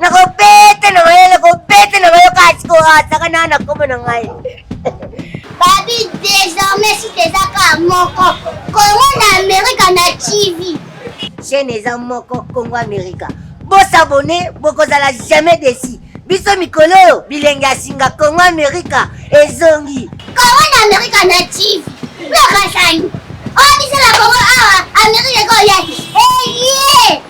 nakobete na mayele kobete na mayo kasi koataka na na kombo na ngai babi désormais si teza ka moko kongo na amerika na tv chaîne eza moko kongo amerika bosabone bokozala jamais desi biso mikolo oyo bilenge ya singa kongo amerika ezongi kongo na amerika na tv nakasani oyo biso na kongo awa amerika ekoya eye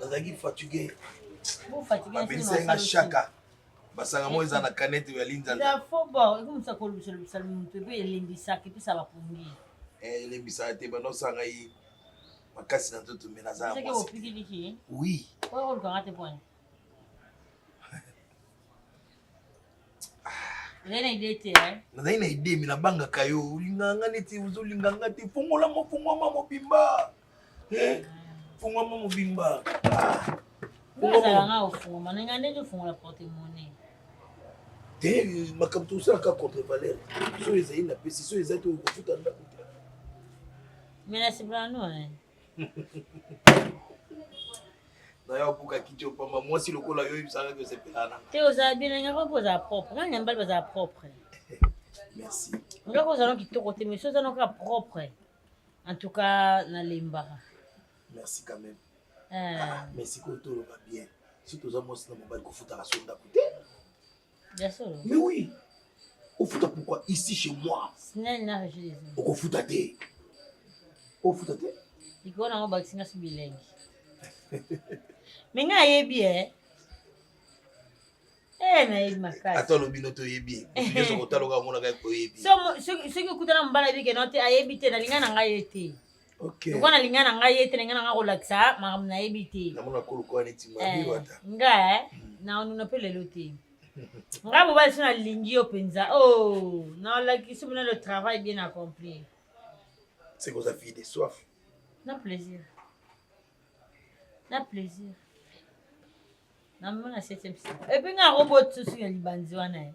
nazalaki fatigue bapelisaki nga shaka basanga moko eza na kanete ya linzanzaelembisaki eh, elembisaka te banosanga ye makasi na nzoto me naza oui Rien na idée te hein. Nazali na idée mais nabangaka yo olingaka nga neti ozolinga nga te fongola mo fongwama mobimba eh, fongwama mobimba ozalanga ofungwama ndenge nde tofungola porte monnaie te makambo tosalaka contre valeur soki ezali na pesi soki ezali te okofuta ndako te mais nasepela no nayo abuka kiti opamba mwasi lokola yo oyebisaka ke osepelana te ozala bilenge yango mpo ozala propre nani yambali bazala propre merci ndoko ozala kitoko te mais ozala kaka propre en tout cas nalembaka merci quand même eh. ah, mais sikoyo toloba bien si toza mwasi na mobali kofutaka so ndako te Mais oui, au foot pourquoi ici chez moi Au foot à thé. Au foot à thé. Il faut avoir vaccination bilingue. Mais nga yebi eh. Eh na yebi makasi. Ata lobi no to yebi. Yeso kotaloka mona ka ko yebi. So soki okutana mbala bi ke no te ayebi te na linga na ngai te. Okay. Lokola nalinga na ngai ye te nalinga na ngai kolakisa makambo nayebi te. Namona kolokola neti mabi wata. Eh, nga eh, hmm. naonuna mpe lelo te. ngai mobali so nalingi yo mpenza o oh, nalakisi mona le travail bien accompli seke oza fille de soif na plaisir na plaisir namema na septième epuis nga robot susu ya libanzi wana ye eh.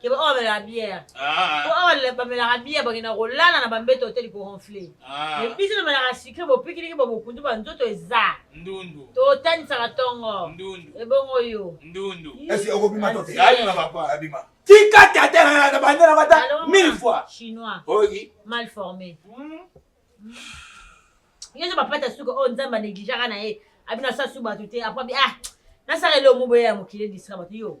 ke ba oyo bamelaka biere po awa bamelaka biere bakenda kolala na bambeto te likoronfle me biso tomelaka sikre bopikiliki bo bokundu ba nzoto eza ndundu totanisaka tongo ndundu ebongo yo ndundu esi okobima to te abima papa abima tika tata na bande na bata mille fois chinois oyi mal formé yo nde bapata suka oyo nzambe anegligeaka na ye abina sasu bato te apres ah nasala elongo boye ya mokili edistra bato yo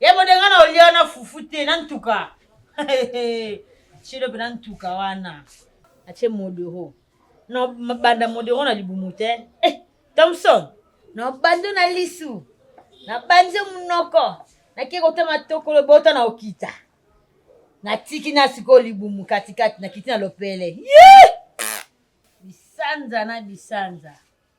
yebode nga na olia wana fufu te na ntuka shilo mpe na ntuka wana atie modero na banda modero na libumu te eh, thomson na bando na lisu na banze monoko nake kotama tokolo bota na okita natiki na sikoyo libumu katikati nakiti na lopele bisanza na bisanza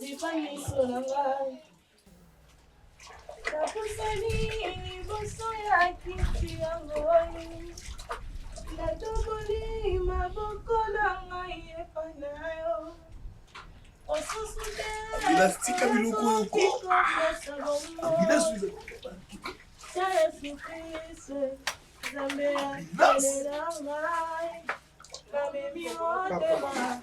Lipa miso na ngai napusani liboso ya kiti ya ngoi natoboli maboko na ngai epai na yo osusu te elastika biloko yoko ya yesu kristo nzambe ya ngai namemi motema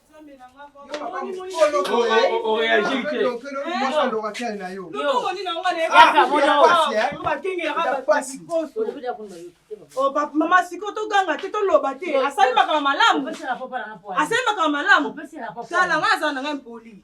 mama siko toganga te toloba te asali makambo malamu asali makambo malamu tala ngai aza na ngai mpoli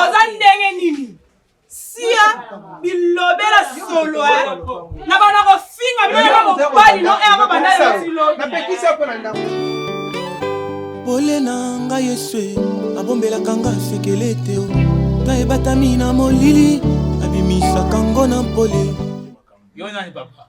oza ndenge nini sia bilobela solo eh. na bana kofinga bana mobali no ero bandasilobela pole na nga yesu e, abombelaka nga sekele te nga ebatami na molili abimisaka ngo na mpole yo nani papa